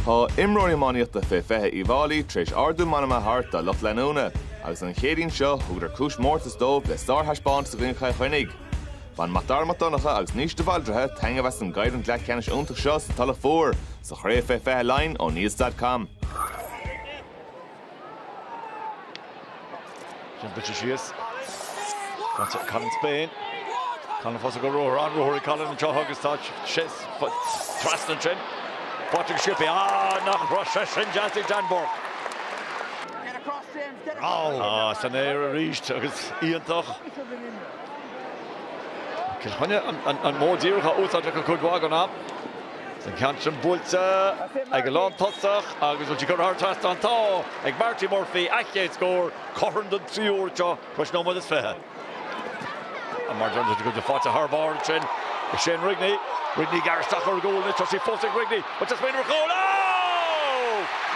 Tá imreoirí iománaíochta fé 20 Uíbh Fháilí tar éis ardú meanma a thabhairt dá lucht leanúna agus an Chéadaoin seo thugadar cúis mórtais dóibh le sárthaispeántas i gcoinne Chill Chainnigh. Bhain Mac Dara Mac Donncha agus Naoise de Bhaldraithe taitneamh as an gcoimhlint leathcheannais iontach seo sa Tulach Mhór sa Chraobh fé 20 Laighin ó Nuacht.com. Sin buailte síos. Ag Colin Spain. Colin fós ag ruathar, an-ruathar ag Colin anseo agus tá sé trasna ansin. Pádraig Skippy. Ah nach raibh sé sin deas ag Dan Bourke. Ah san aer arís agus iontach. Cill Chainnigh an modh díreach á úsáid acu cuid mhaith den am. An ceann sin buailte ag an lántosach agus bhfuil sí curtha thar trasnán, tá ag Marty Murphy a chéad scór cothrom don tríú huair tar éis nóiméad is fiche. Ach mar a dúirt tú, faighte thar barr ansin ag Shane Rigney. Rigney gar isteach ar gcúl anois. Tá sí fós ag Rigney. Bhfuil sé ag smaoineamh ar chúl. Á!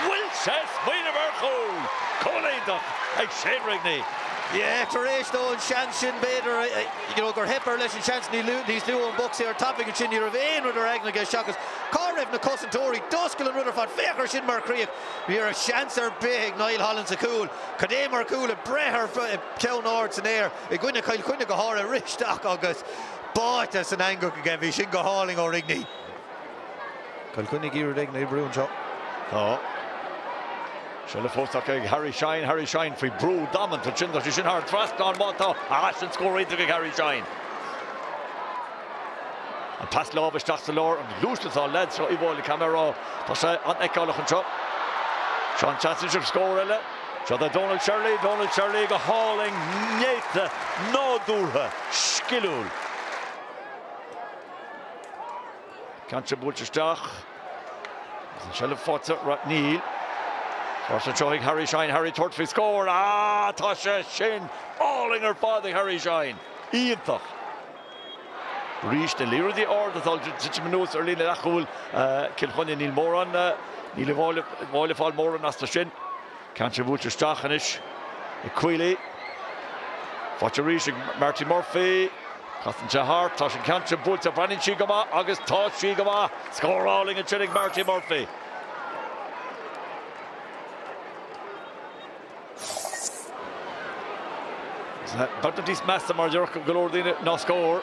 Bhfuil sé ag smaoineamh ar chúl! Cúl iontach ag Shane Rigney. Yeah, tar éis dó an seans sin b'fhéidir a. you know gur theip air leis an seans níos luaithe ón bpoc saor tapaidh ansin ní raibh aon rud ar aigne aige seachas cá raibh na cosantóirí? D'oscail an rud ar fad féach ar sin mar chríoch ní raibh seans ar bith ag Niall Holland sa chúl cad é mar chúl ag breith ar ceann ard san aer i gcoinne Chill Chainnigh go háirithe rith isteach agus báite san eangach aige bhí sin go hálainn ó Rigney. Cill Chainnigh ag iarraidh cur in aghaidh an bhrú anseo. Tá seilbh fós acu ag Harry Shine. Harry Shine faoi brú damanta má théann sé sin thar trasnán, má tá, is an-scór é ag Harry Shine. An pas láimhe isteach sa lár, an-luas, tá an leaid seo Uíbh Fhailí Kavanagh. Tá sé an-fheiceálach anseo. Seo an seans is ea scór eile. Seo do Donal Shirley. Donal Shirley go hálainn, néata, nádúrtha, sciliúil. Ceann seo buailte isteach. Agus an tseilbh faighte ar ais, níl. Fós anseo ag Harry Shine, Harry tabhairt faoi scór. Á, tá sé sin álainn ar fad ag Harry Shine. Iontach. Arís, na liathróidí arda atá ag titim anuas ar líne leathchúil Cill Chainnigh, níl mórán, níl Uíbh Fhailí ag fáil mórán astu sin. Ceann seo buailte isteach anois ag Queally. Faighte arís ag Marty Murphy. Casann sé thart. Tá an ceann seo buailte. Breathnaíonn sí go maith agus tá sí go maith. Scór álainn ansin ag Marty Murphy. Is ní ba mheasa mar a déarfadh go leor daoine ná scór.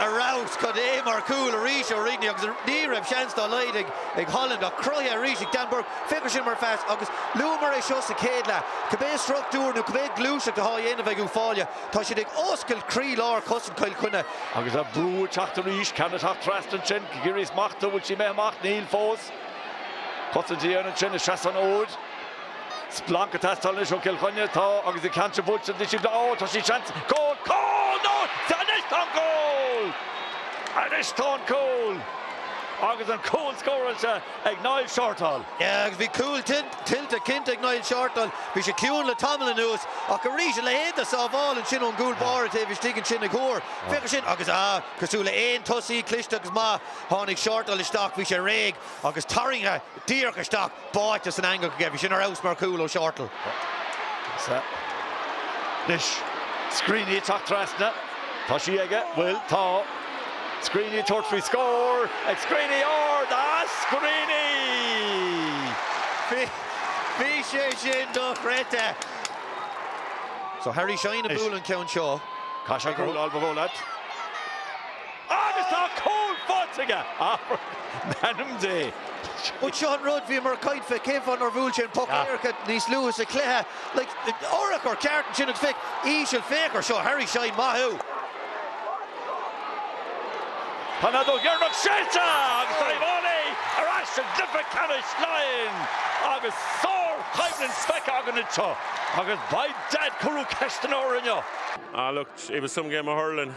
Ar fheabhas, cad é mar chúl arís ó Rigney agus ní raibh seans dá laghad ag Holland ach cruthaithe arís ag Dan Bourke. Féach air sin mar phas agus luamar é seo sa chéad leath. Cibé struchtúr nó cibé gluaiseacht athá a dhéanamh ag Uíbh Fhailí tá siad ag oscailt croí-lár chosaint Chill Chainnigh. Agus an brú ag teacht arís, ceann ag teacht trasna ansin, ag iarraidh í a smachtú, bhfuil sí imithe amach? Níl fós. Cosaint á déanamh ansin ag seasamh an fhóid. Splanc ag teastáil anois ó Chill Chainnigh. Tá agus an ceann seo buailte ag disciplín Ó, tá sí seans. Cúl! Cúl! Nó anois tá an cúl! Anois tá an cúl! Agus an cúl scóráilte ag Niall Shortall. Yeah agus bhí cúl tuillte cinnte ag Niall Shortall. Bhí sé ciúin le tamall anuas ach arís a leithéid de sábháil ansin ón gcúl báire taobh istigh ansin ag Hoare. Féach air sin agus ah cosúil le aon tosaí cliste agus maith tháinig Shortall isteach, bhí sé réidh agus tarraingthe. díreach isteach, báite san eangach aige. Bhí sin ar fheabhas mar chúl ó Shortall. Anois Screeney ag teacht trasna. Tá sí aige. Bhfuil? Tá. Screeney ag tabhairt faoi scór ag Screeney, ó Screeney! Bhí sé sin dochreidte. Seo Harry Shine a bhuail an ceann seo. Caithfidh sé cúl, Ailbhe Mhonatt. Agus tá cúl faighte aige! M'anam Dé! Bhuel, seo an rud, bhíomar ag caint fé cén fáth nár bhuail sé an poc éirice níos luaithe sa chluiche. Like, urchar ceart ansin agus féach, íseal, féach air seo, Harry Shine, maith thú! Tá an fheadóg dheireanach séidte agus tá Uíbh Fhailí ar ais i gcluiche ceannais Laighean agus sár-choimhlint feicthe againn anseo agus beidh Deaid ag cur ceisteanna orainn inniu. Ah look, it was some game of hurling.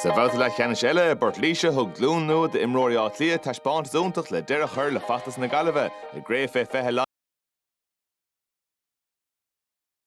Sa bhabhta leathcheannais eile i bPort Laoise thug glúin nua d'imreoirí Átha Cliath taispeántas iontach le deireadh a chur le feachtas na Gaillimhe i gCraobh Fé 20